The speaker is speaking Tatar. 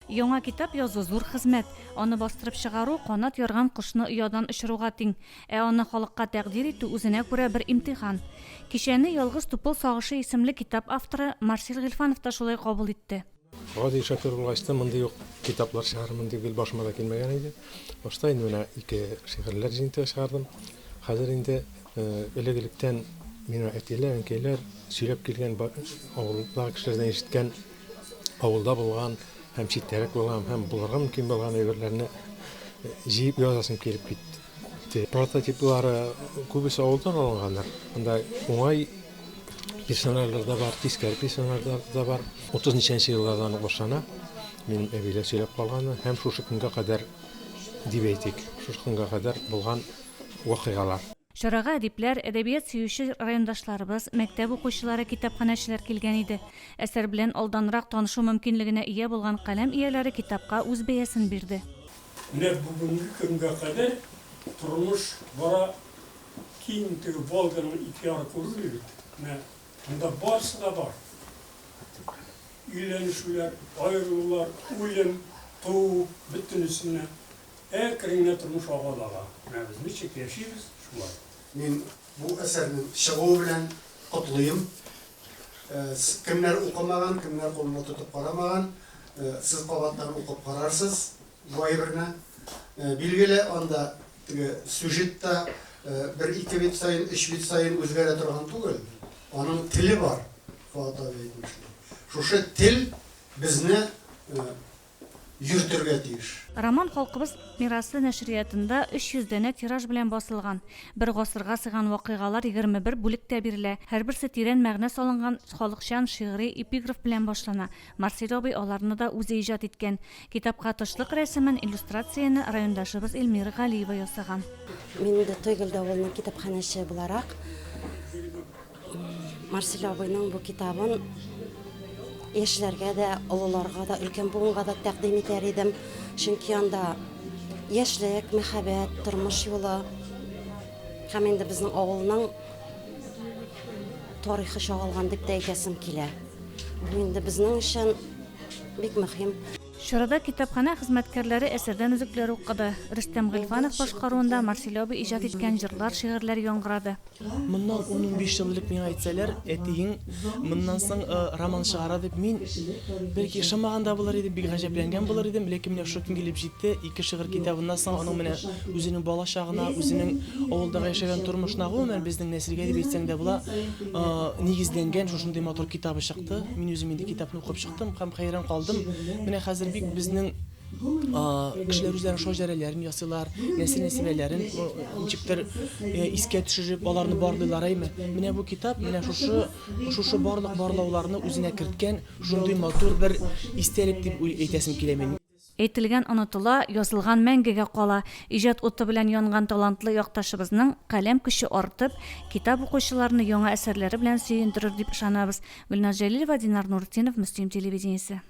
Яңа китап язу зур хезмәт. Аны бастырып чыгару, канат ярган кошны оядан очыруга тиң. Ә аны халыкка тәкъдир итү үзенә күрә бер имтихан. Кичәне Ялгыз тупыл сагышы исемле китап авторы Марсель Гыйльфанов та шулай кабул итте. Гади шофер булгач та, мондый ук китаплар чыгарырмын дип гел башыма да килмәгән иде. Башта инде менә ике шигырьләр җыентыгы чыгардым. Хәзер инде элек-электән миңа әтиләр, әнкәйләр сөйләп килгән, авылдагы кешеләрдән ишеткән авылда булган һәм читтәрәк булган һәм булырга мөмкин булган әйберләрне җыеп язасым килеп китте. Прототиплары күбесе авылдан алынгандыр. Анда уңай персонажлар да бар, тискәре персонажлар да бар. 30 ничәнче еллардан ук башлана. Минем әбиләр сөйләп калганы һәм шушы көнгә кадәр дип әйтик, шушы көнгә кадәр булган вакыйгалар. Чарага әдипләр, әдәбият сөюче райондашларыбыз, мәктәп укучылары, китапханәчеләр килгән иде. Әсәр белән алданрак танышу мөмкинлегенә ия булган каләм ияләре китапка үз бәясен бирде. Менә бүгенге көнгә кадәр тормыш бара, киң теге Волганың ике яры күренми бит, менә монда барысы да бар. Өйләнешүләр, аерылулар, үлем, туу, бөтенесен дә Әр көнеңне тормыш аваз ага. Менә без ничек яшибез, шулай. Мин бу әсәрнең чыгуы белән котлыйм. Кемнәр укымаган, кемнәр кулына тотып карамаган, сез кабаттан укып карарсыз бу әйберне. Билгеле, анда теге сюжет та бер-ике бит саен, өч бит саен үзгәрә торган түгел. Аның теле бар, Фоат абый әйтмешли. Шушы тел безне йөртергә тиеш. Роман Халкыбыз мирасы нәшриятында 300 данә тираж белән басылган. Бер гасырга сыйган вакыйгалар 21 бүлектә бирелә, һәрберсе тирән мәгънә салынган халыкчан шигъри эпиграф белән башлана. Марсель абый аларны да үзе иҗат иткән. Китапка тышлык рәсемен, иллюстрацияне райондашыбыз Эльмира Галиева ясаган. Мин инде Тойгел давылының китапханәче буларак. Марсель абыйның бу китабын яшьләргә дә, олыларга да, өлкән буынга да тәкъдим итәр идем. Чөнки анда яшьлек, мәхәббәт, тормыш юлы һәм инде безнең авылның тарихы чагылган дип тә әйтәсем килә. Бу инде безнең өчен бик мөһим. Чарада китапханә хезмәткәрләре әсәрдән өзекләр укыды. Рөстәм Гыйльфанов башкаруында Марсель абый иҗат иткән җырлар, шигырьләр яңгырады. Моннан ун-унбиш ел элек миңа әйтсәләр, әтиең моннан соң роман чыгара дип, мин, бәлки, ышанмаган да булыр идем, бик гаҗәпләнгән булыр идем, ләкин менә шул көн килеп җитте, ике шигырь китабыннан соң аның менә үзенең балачагына, үзенең авылдагы яшәгән тормышына, гомумән, безнең нәселгә дип әйтсәң дә була, нигезләнгән шушындый матур китабы чыкты. Мин үзем инде китапны укып чыктым һәм хәйран калдым. Менә хәзер бик безнең. кешеләр үзләренең шаҗәрәләрен ясыйлар, нәсел-нәсибәләрен ничектер искә төшереп, аларны барлыйлар әйме. Менә бу китап менә шушы шушы барлык барлауларны үзенә керткән шундый матур бер истәлек дип әйтәсем килә мин. Әйтелгән онытыла, язылган мәңгегә кала. Иҗат уты белән янган талантлы якташыбызның каләм көче артып, китап укучыларны яңа әсәрләре белән сөендерер дип ышанабыз. Гөлназ Җәлилова, Динар Нуртдинов, Мөслим телевидениесе.